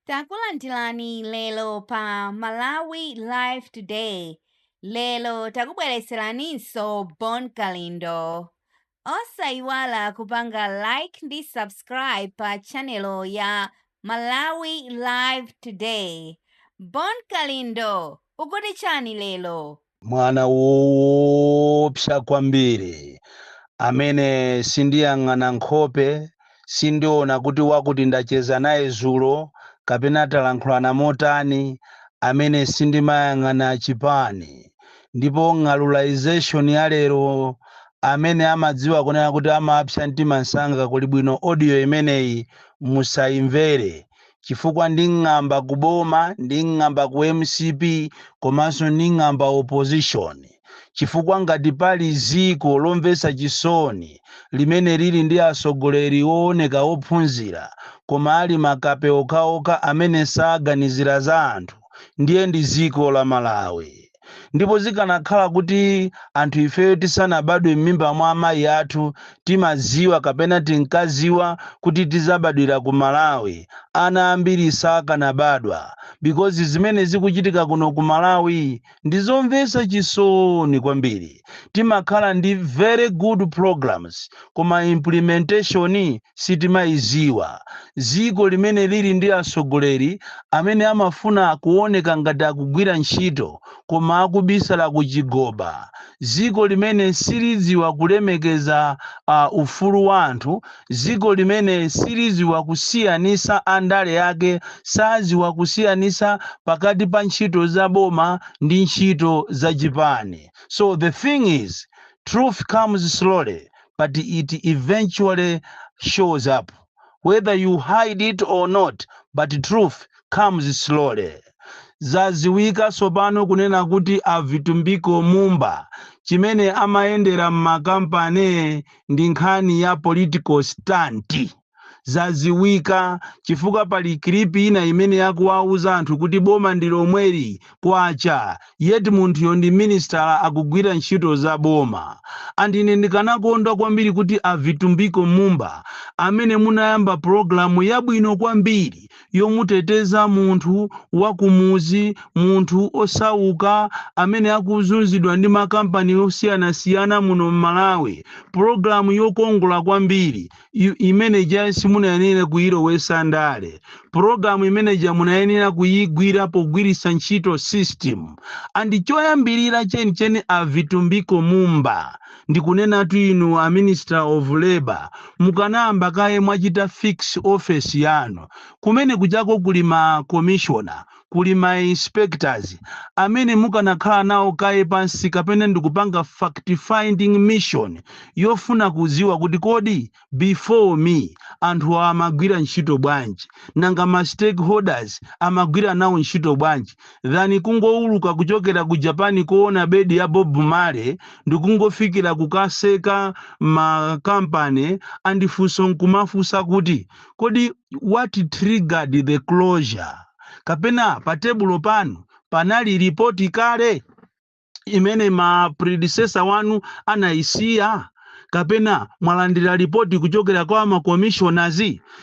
Takulandirani lero pa Malawi Live Today. Lero takubweretseraninso Bon Kalindo. Osayiwala kupanga like ndi subscribe pa channel ya Malawi Live Today. Bon Kalindo, ukuti chani lero? Mwana woopsa kwambiri amene sindiyang'ana nkhope, sindiona kuti wakuti ndacheza naye zulo kapena talankhulana motani, amene sindimayang'ana chipani, ndipo ng'alulization ya lero amene amadziwa kunena kuti amapsa mtima msanga kuli bwino audio imeneyi musaimvere. chifukwa nding'amba ku boma nding'amba ku mcp komanso nding'amba opposition chifukwa ngati pali ziko lomvetsa chisoni limene lili ndi atsogoleri wooneka wophunzira koma ali makape okhaokha amene saganizira za anthu ndiye ndi ziko la malawi ndipo zikanakhala kuti anthu ifeyo tisanabadwe m'mimba mwa amayi athu timaziwa kapena tinkaziwa kuti tidzabadwira ku malawi, ana ambiri sakanabadwa because zimene zikuchitika kuno ku malawi ndi zomvetsa chisoni kwambiri. Timakhala ndi very good programs koma implementation sitimaiziwa ziko limene lili ndi asogoleri amene amafuna kuoneka ngati akugwira ntchito koma akubisala ku chigoba, ziko limene siliziwa kulemekeza a ufulu wa anthu, ziko limene siliziwa kusiyanisa andale ake saziwa kusiyanisa pakati pa ntchito za boma ndi ntchito za chipani so the thing is truth comes slowly but it eventually shows up whether you hide it or not but truth comes slowly zaziwika sopano kunena kuti a vitumbiko mumba chimene amayendera m'makampani ndi nkhani ya political stunt zaziwika chifukwa pali clip ina imene akuwauza anthu kuti boma ndi lomweli kwacha yet munthuyo ndi minister akugwira ntchito za boma and ine ndikanakondwa kwambiri kuti a Vitumbiko Mumba amene munayamba program yabwino kwambiri yomuteteza munthu wakumuzi munthu osauka amene akuzunzidwa ndi makampani osiyanasiyana muno m'Malawi program yokongola kwambiri i- imene ja simunayenera kuyilowesa ndale pulogalamu imene ja munayenera kuyigwira pogwiritsa ntchito system and choyambirira chenicheni a vitumbiko mumba ndikunenatu inu a minister of labor mukanayamba kaye mwachita fix office yanu kumene kujako kuli ma commissioner kuli ma inspectors amene mukanakhala nawo kaye pansi kapena ndikupanga fact finding mission yofuna kudziwa kuti kodi before me anthu amagwira ntchito bwanji nanga ma stakeholders amagwira nawo ntchito bwanji than kungowuluka kuchokera ku Japan kowona bedi ya Bob Marley ndikungofikira kukaseka ma company and funso nkumafunsa kuti kodi what triggered the closure kapena pa tebulo panu panali ripoti kale imene ma predecessor wanu anayisiya kapena mwalandira ripoti kuchokera kwa ma commissioners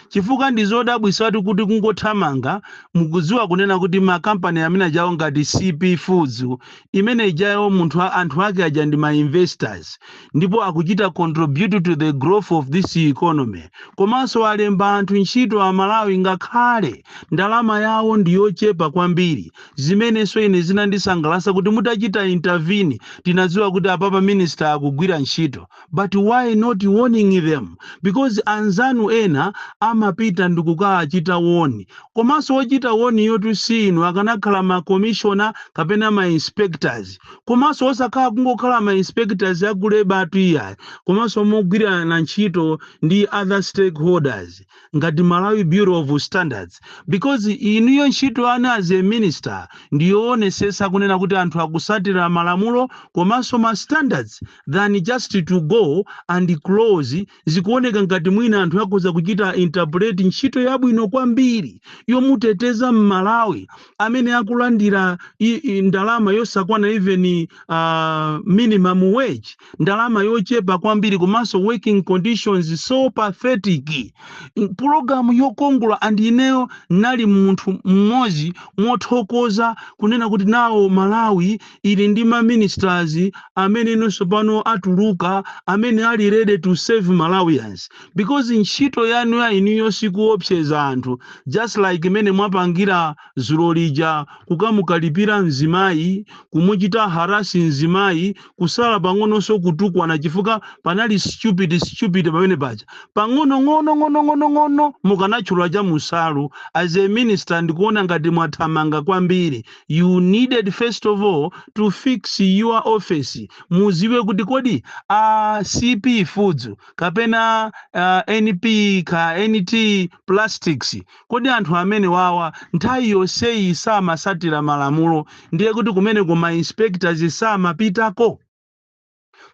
chifukwa ndi zodabwisatu kuti kungothamanga mukudziwa kunena kuti makampani amene ajawo ngati CP Feeds imene ijayo munthu a- anthu ake aja ndi ma investors ndipo akuchita contribute to the growth of this economy komanso alemba anthu ntchito a malawi ngakhale ndalama yawo ndi yochepa kwambiri zimenenso ine zinandisangalasa kuti mutachita intervene tinadziwa kuti apapa minister akugwira ntchito but why not warning them because anzanu ena amapita ndikukawachita woni komanso wochita warn-yotu si inu akanakhala ma commissioner kapena ma inspectors komanso osakhala kungokhala ma inspectors aku labour-tu iyayi komanso mogwirana ntchito ndi other stakeholders ngati Malawi Bureau of Standards because inuyo ntchito yanu as a minister ndiyoonesetsa kunena kuti anthu akusatira malamulo komanso ma standards than just to go and close Zikuoneka ngati mwina anthu akhoza kuchita interpret ntchito yabwino kwambiri yomuteteza m'Malawi amene akulandira i, i, ndalama yosakwana even uh, minimum wage, ndalama yochepa kwambiri komanso working conditions so pathetic. N- Pulogalamu yokongola and ineyo ndinali munthu mmodzi mothokoza kunena kuti now Malawi ili ndi ma ministers amene inonso pano atuluka amene ali ready to serve malawians because ntchito yanu ya inuyo sikuopseza anthu just like mmene mwapangira zulo lija kukamukalipira mzimayi kumuchita harass mzimayi kusala pang'ononso kutukwana chifukwa panali stupid stupid pamene paja pang'ono ng'ono ng'ono ng'ono ng'ono mukanatchula cha munsalu as a minister ndikuona ngati mwathamanga kwambiri you needed first of all to fix your office mudziwe kuti kodi a cp foods kapena uh, np ka nt plastics kodi anthu amene wawa nthawi yonseyi samatsatira malamulo ndiye kuti kumeneko ma inspectors samapitako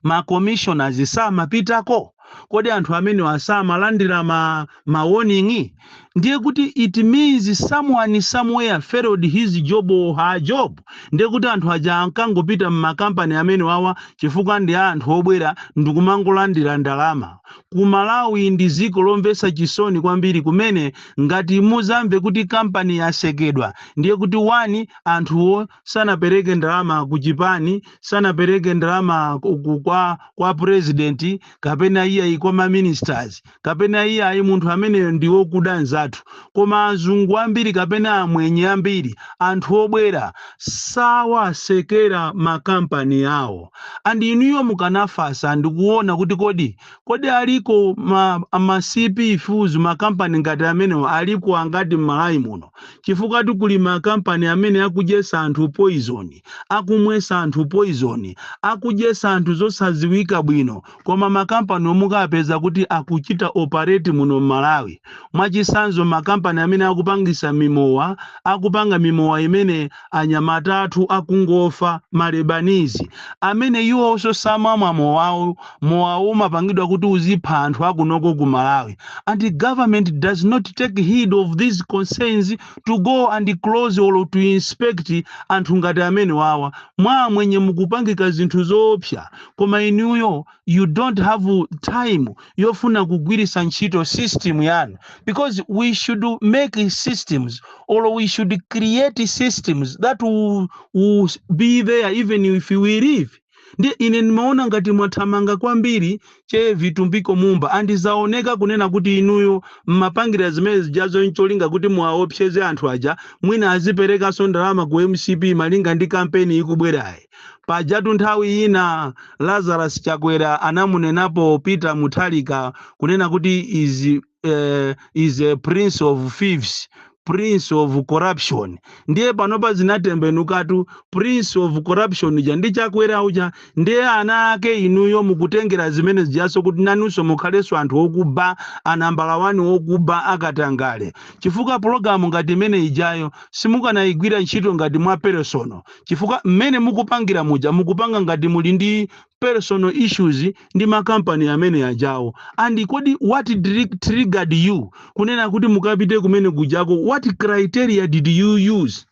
ma commissioners samapitako? Kodi anthu amenewa samalandira ma, ma warning? Ndiye kuti it means someone somewhere failed his job or her job. Ndiye kuti anthu aja ankangopita m'makampani amenewawa chifukwa ndi a anthu obwera ndikumangolandira ndalama. Ku Malawi ndi dziko lomvetsa chisoni kwambiri kumene ngati muzamve kuti kampani yatsekedwa ndiye kuti one anthuwo sanapereke ndalama ku chipani sanapereke ndalama ku- ku- kwa kwa president kapena iyayi kwa ma ministers kapena iyayi munthu ameneyo ndi wokuda nzathu koma azungu ambiri kapena amwenye ambiri anthu obwera sawatsekera makampani awo and inuyo mukanafatsa ndikuona kuti kodi kodi aliko ma, ma cp foods makampani ngati amenewo aliko angati m'malawi muno Chifukwatu kuli makampani amene akudyetsa anthu poison, akumwetsa anthu poison, akudyetsa anthu zosadziwika bwino koma makampaniwo mukawapeza kuti akuchita operate muno mmalawi. Mwachitsanzo makampani amene akupangitsa mimowa, akupanga mimowa imene. anyamata athu akungofa, ma Lebanese, amene iwonso samamwa mowawo, mowawo umapangidwa kuti uzipha anthu akunoko ku Malawi and government does not take heed of these concerns to go and close or to inspect anthu ngati amenewawa, mwa amwenye mukupangika zinthu zoopsa koma inuyo. you don't have time yofuna kugwiritsa ntchito system yanu because we should make systems or we should create systems that will, will be there even if we leave ndiye ine ndimaona ngati mwathamanga kwambiri che vitumbiko mumba and zaoneka kunena kuti inuyo mmapangira zimene zijazo ncholinga kuti muwaopseze anthu aja mwina aziperekanso ndalama ku mcp malinga ndi kampeni ikubwerayi Pajatu nthawi ina Lazarus Chakwera anamunenapo Peter Mutharika kunena kuti is, eh, is a prince of thieves prince of corruption ndiye panopa zinatembenukatu prince of corruption uja ndi chakwera uja ndiye ana ake inuyo mukutengera zimene zijazo kuti nanunso mukhalenso anthu okuba anambala wani okuba akatangale chifukwa pologalamu ngati imene ijayo simukanayigwira ntchito ngati mwa peresono chifukwa mmene mukupangira muja mukupanga ngati muli ndi personal issues ndi makampani amene ajawo and kodi what dri- triggered you kunena kuti mukapite kumene kujako what criteria did you use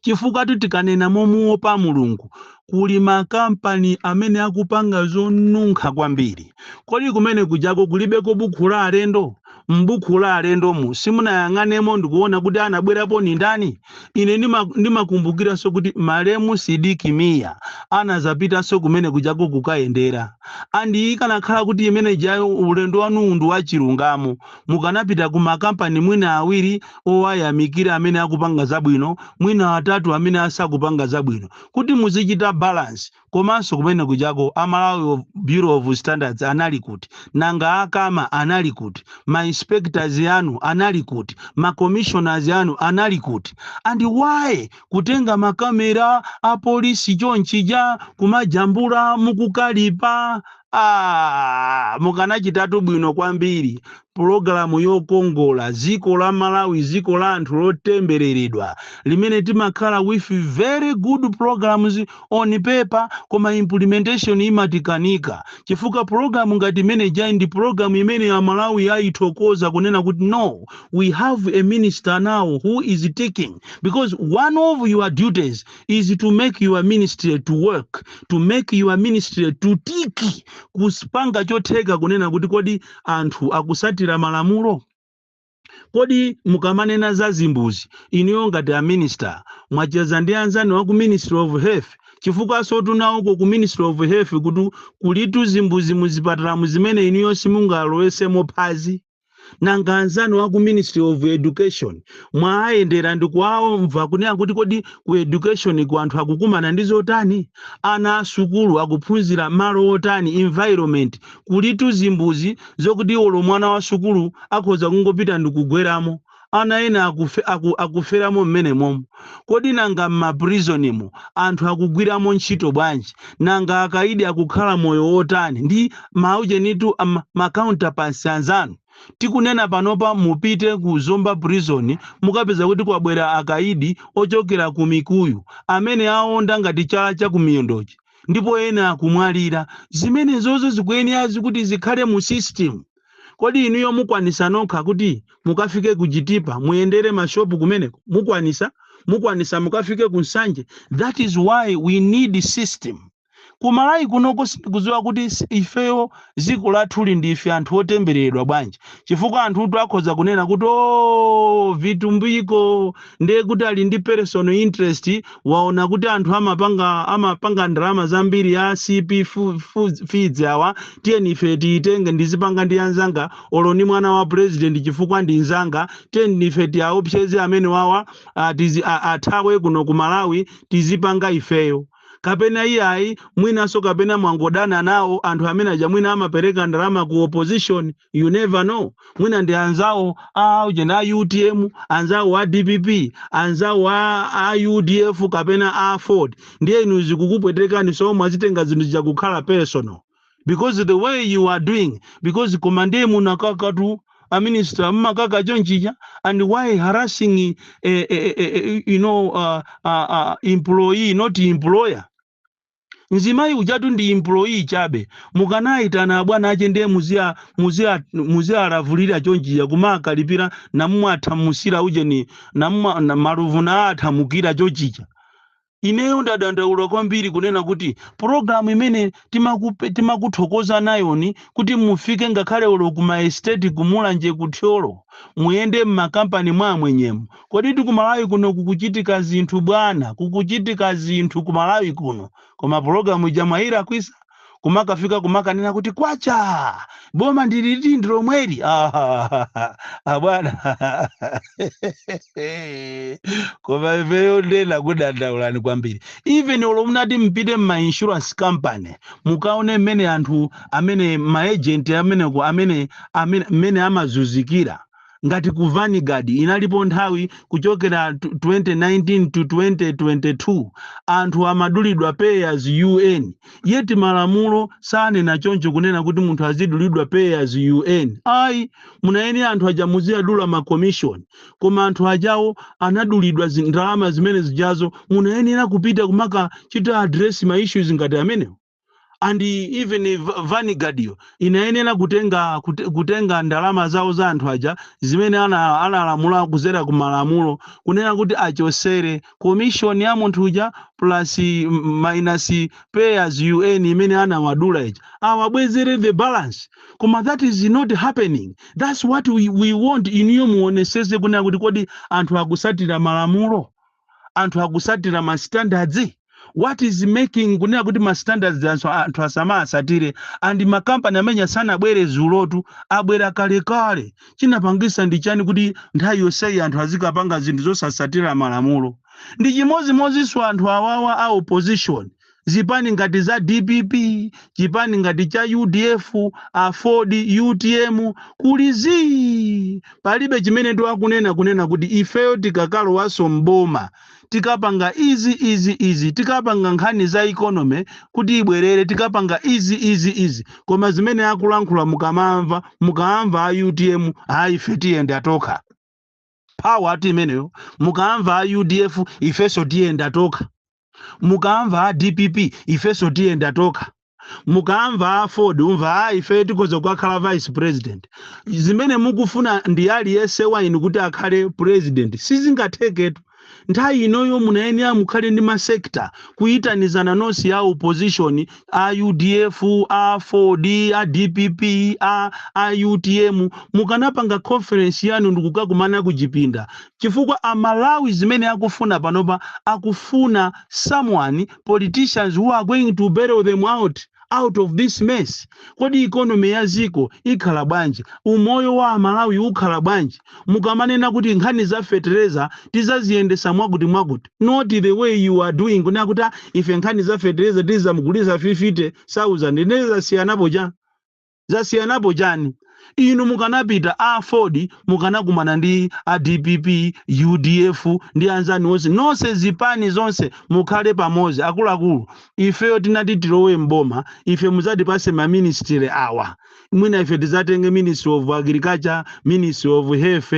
chifukwa tu tikanena momuopa mulungu kuli makampani amene akupanga zonunkha kwambiri kodi kumene kujako kulibeko bukhu la alendo M'bukhu la alendomu, simunayang'anemo ndi kuwona kuti anabwerapo ndi ndani? Ine ndima, ndimakumbukiranso kuti malemu Sidik Mia anadzapitanso kumene kujako kukayendera. And ikanakhala kuti imene ijayo, ulendo wanuwu ndu wachilungamo, mukanapita ku ma kampani mwina awiri owayamikira amene akupanga zabwino, mwina atatu amene asakupanga zabwino, kuti muzichita balance. Komanso kumene kujako a Malawi Bureau of Standards anali kuti? Nanga a Cama anali kuti? Ma inspectors anu anali kuti? Ma commissioners anu anali kuti? And why kutenga ma camera a police chonchija kumajambula mukukalipa? Aaa! Mukanachitatu bwino kwambiri pulogalamu yokongola, dziko la Malawi dziko la anthu lotembeleredwa limene timakhala with very good programmes on paper koma implementation imatikanika chifukwa pulogalamu ngati imene ijayi ndi pulogalamu imene a Malawi ayithokoza kunena kuti no we have a minister now who is ticking because one of your duties is to make your ministry to work to make your ministry to tick kuzipanga chotheka kunena kuti kodi anthu akutsatira malamulo? Kodi mukamanena za zimbuzi inuyo ngati a minister mwacheza ndi anzanu aku ministry of health? Chifukwansotu nawoko ku ministry of health kuti kulitu zimbuzi muzipatalamu zimene inuyo simungalowesemo phazi. Nanga anzanu aku ministry of education mwaayendera ndikuwamva kunena kuti kodi ku education ko anthu akukumana ndi zotani? Ana asukulu akuphunzira malo otani, environment? Kulitu zimbuzi zokuti olo mwana wa sukulu akhoza kungopita ndikugweramo, ana ena akufe, aku, akuferamo mmenemomo. Kodi nanga mma prison mo anthu akugwiramo ntchito bwanji? Nanga akaidi akukhala moyo wotani ndi, maujenitu, am, ma counterparts anzanu? Tikunena panopa mupite ku Zomba prison mukapeza kuti kwabwera akaidi ochokera ku Mikuyu amene aonda ngati chala cha kumiyondo chi. ndipo ena akumwalira zimenezozo zikuyenera zikuti zikhale mu system kodi inuyo mukwanisa nokha kuti mukafike ku chitipa muyendere mashopu kumeneko mukwanisa mukwanisa mukafike ku nsanje that is why we need system ku Malawi kunoko sindikudziwa kuti s- ifeyo dziko lathuli ndife anthu otembereredwa bwanji chifukwa anthutu akhoza kunena kuti oo vitumbiko ndiye kuti ali ndi personal interest waona kuti anthu amapanga amapanga ndalama zambiri ya cp fe- fe- feeds awa tiyeni ife tiyitenge ndizipanga ndi anzanga olo ni mwana wa president chifukwa ndi nzanga tiyeni ife tiyaopseze amene wawa ah, tizi- ah, athawe kuno ku malawi tizipanga ifeyo kapena iyayi mwinanso kapena mwangodana nawo anthu amene aja mwina amapereka ndalama ku opposition you never know mwina ndi anzawo a ujeni a utm anzawo a dpp anzawo a, a udf kapena aford ndiye inu zikukupwetekani so mwazitenga zinthu zija kukhala personal because the way you are doing because koma ndiye munakakatu a minister mumakaka chonchija and why harassing eh, eh, eh, eh, you know uh, uh, uh, employee not employer mzimayi ujatu ndi employee chabe mukanayitana abwana ache ndiye muziya muziya muziyalavulira chonchija kumakalipira namuwathamusira ujeni namuma na maluvu nawathamukira chonchija Ineyo ndadandaula kwambiri kunena kuti program imene timakupe, timakuthokoza nayoni kuti mufike ngakhale olo ku ma estate ku Mulanje ku Thyolo muyende mma kampani mwa amwenyemu koditu ku Malawi kuno kukuchitika zinthu bwana kukuchitika zinthu ku Malawi kuno koma program ija mwayilakwitsa kumakafika kumakanena kuti kwacha boma ndiliti ndi lomweli Ah, abwana koma ifeyo ndena kudandaulani kwambiri even olo munati mpite mma insurance company mukaone mmene anthu amene maagent ameneko amene amene mmene amazunzikira ngati ku Vanguard inalipo nthawi kuchokera 2019 to 2022 anthu amadulidwa pay as you earn yet malamulo sanena choncho kunena kuti munthu azidulidwa pay as you earn ayi munayenera anthu aja muziyadula ma commission koma anthu ajawo anadulidwa zi- ndalama zimene zijazo munayenera kupita kumakachita address ma issues ngati amenewo and even Va- Vanguard yo inayenera kutenga kute- kutenga ndalama zawo za anthu aja zimene ana- analamula kuzera ku malamulo kunena kuti achosere commission ya munthu uja plus mm, minus pay as you earn imene anawadula ija awabwezere the balance koma that is not happening that's what we, we want inuyo muoneseze kunena kuti kodi anthu akusatira malamulo anthu akusatira ma standards what is making kunena kuti ma standards anthu, anthu asamaasatire and makampani amenewa sanabwere dzulotu abwera kalekale chinapangisa ndi chani kuti nthawi yonseyi anthu azikapanga zinthu zosasatira malamulo ndi chimodzimodzinso anthu awawa a opposition zipani ngati za dpp chipani ngati cha udf aford utm kuli zii palibe chimene akunena kunena kuti ifeyo tikakalowaso mboma tikapanga izi izi izi tikapanga nkhani za economy kuti ibwerere tikapanga izi izi izi koma zimene akulankhula mukamamva mukamva a utm ayi ife tiyenda tokha power ati imeneyo mukamva a udf ifeso tiyenda tokha mukamva a dpp ifenso tiyenda tokha mukamva a aford umva a ife tikhoza kukhala vice president zimene mukufuna ndi aliyense wa inu kuti akhale president sizingatheketu nthawi inoyo munayenera mukhale ndi masekta kuyitanizana nonse ya opposition a udf a aford a dpp a, a utm mukanapanga conference yanu ndikukakumana ku chipinda chifukwa amalawi zimene akufuna panopa akufuna someone politicians who are going to bail them out out of this mess kodi ikonomi ya ziko ikhala bwanji umoyo wa amalawi ukhala bwanji mukamanena kuti nkhani za fetereza tizaziyendesa mwakuti mwakuti not the way you are doing kunena kuti "Ah, ife nkhani za fetereza tizamugulisa 50000 ndiye zasiyanapo chani zasiyanapo chani inu mukanapita a aford mukanakumana ndi a dpp udf ndi anzanu onse nonse zipani zonse mukhale pamodzi akuluakulu ifeyo titati tilowe mboma ife muzatipase maministry awa mwina ife tizatenge ministry of agriculture ministry of health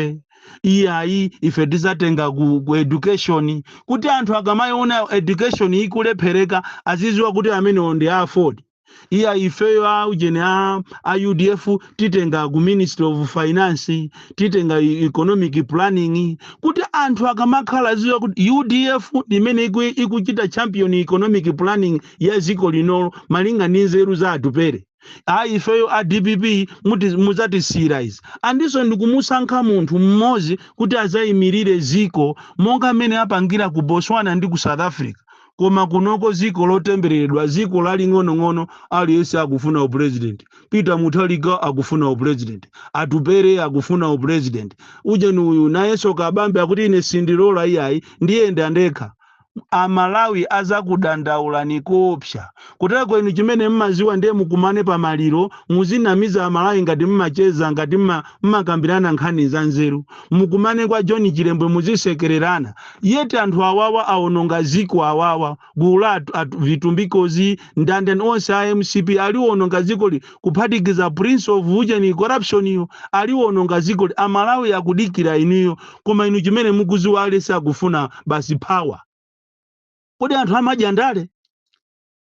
iyayi ife tizatenga ku, ku education kuti anthu akamayiona education ikulephereka aziziwa kuti amenewo ndi a aford iyayi ifeyo a ujeni a, a udf titenga ku ministry of finance titenga e- economic planning kuti anthu akamakhala aziwa kuti udf ndi imene iku- ikuchita champion economic planning ya dziko linolo malinga ndi nzeru za atupere ayi ifeyo a dpp muti- mudzatisiyira izi andinso ndikumusankha munthu mmodzi kuti adzayimirire dziko monga amene apangira ku botswana ndi ku south africa koma kunoko dziko lotembereredwa dziko laling'onong'ono aliyense akufuna upurezidenti peter mutharika akufuna upurezidenti atupere akufuna upurezidenti ujeni uyu nayenso kabambe akuti ine sindilola iyayi ndiyenda ndekha a Malawi azakudandaulani koopsa. Kutereko inu chimene mmaziwa ndiye mukumane pa maliro muzinamiza a Malawi ngati mmacheza ngati mma mmakambirana nkhani za nzeru. Mukumane kwa John Chilembwe muzisekererana. Yet anthu awawa awononga ziko awawa gulu la a a vitumbikozi, ndi ndani onse a mcp aliwononga zikoli. kuphatikiza prince of ujeni corruption yo aliwononga zikoli amalawi akudikira inuyo koma inu chimene mukuziwa aliyese akufuna basi power kodi anthu samadya ndale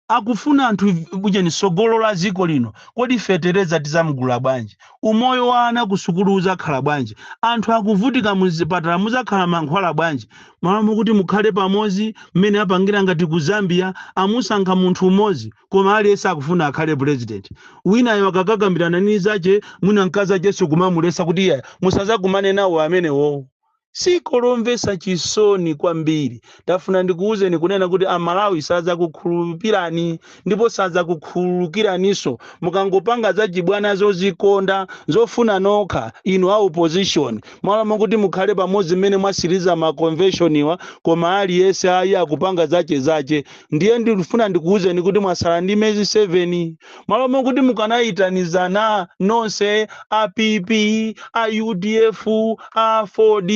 akufuna anthu ujeni sogolo la ziko lino kodi fetereza tizamgula bwanji umoyo wa ana kusukulu uzakhala bwanji anthu akuvutika muzipatala muzakhala mankhwala bwanji malo mokuti mukhale pamodzi mmene apangira ngati ku zambia amusankha munthu umodzi koma aliyese akufuna akhale president winayo akakakambilana ndi nzache mwina mkazacheso kumamulesa kuti iyayi musazakumane nawo amenewowo ziko lomvesa chisoni kwambiri ndafuna ndikuwuzeni kunena kuti amalawi sazakukhulupirani ndipo sazakukhululukiraniso mukangopanga zachibwana zozikonda zofuna nokha inu a opposition malo mokuti mukhale pamodzi mmene mwasiriza ma convention wa koma aliyese ayi akupanga zache zache ndiye ndikufuna ndikuwuzeni kuti mwatsala ndi mezi 7 malo mokuti mukanayitanizana nonse a pp a udf a aford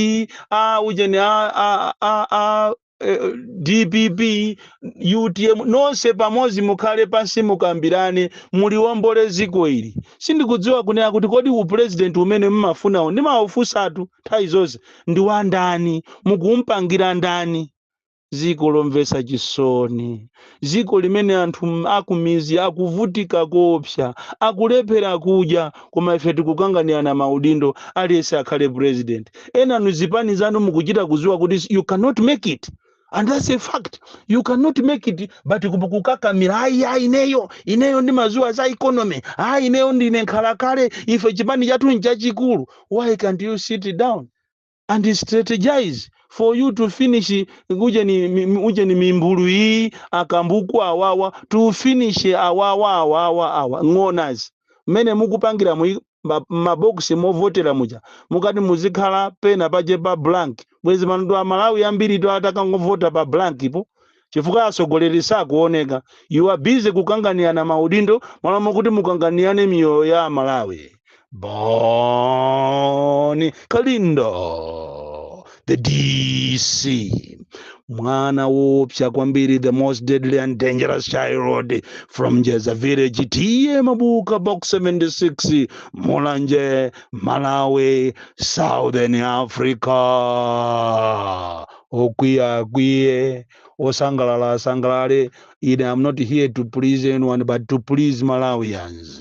a ujeni a, a, a, a eh, dpp utm nonse pamodzi mukhale pansi mukambirane muliwombole dziko ili sindikudziwa kunena kuti kodi upulezidenti umene mmafunawo ndimawufusatu nthawi zonse ndi wandani mukupangira ndani ziko lomvetsa chisoni ziko limene anthu m- akumizi akuvutika kopsa akulephera kudya koma ife tikukanganirana maudindo aliyense akhale president enanu zipani zanu mukuchita kuziwa kuti you cannot make it and that's a fact you cannot make it but kup- kukakamira ayi ayi ineyo ineyo ndimaziwa za economy ayi ineyo ndine nkhalakale ife chipani chathu nchachikulu why can't you sit down and strategize for you to finish ujeni mi- mi- ujeni mimbulu iyi akambuku awawa to finish awawa awawa awa ng'onazi mmene mukupangiramu mabokisi movotera muja mukati muzikhala pena pake pa blank bwezi panotu amalawi ambiritu atakangovota pa blankpo chifukwa atsogoleri sakuoneka you are busy kukanganirana maudindo malo mokuti mukanganirane miyoyo ya amalawi boni kalindo the dc mwana wopsa kwambiri the most deadly and dangerous child from njeza village T/A mabuka box 76 mulanje malawi southern africa okwiya akwiye osangalala asangalale ine am not here to please anyone but to please malawians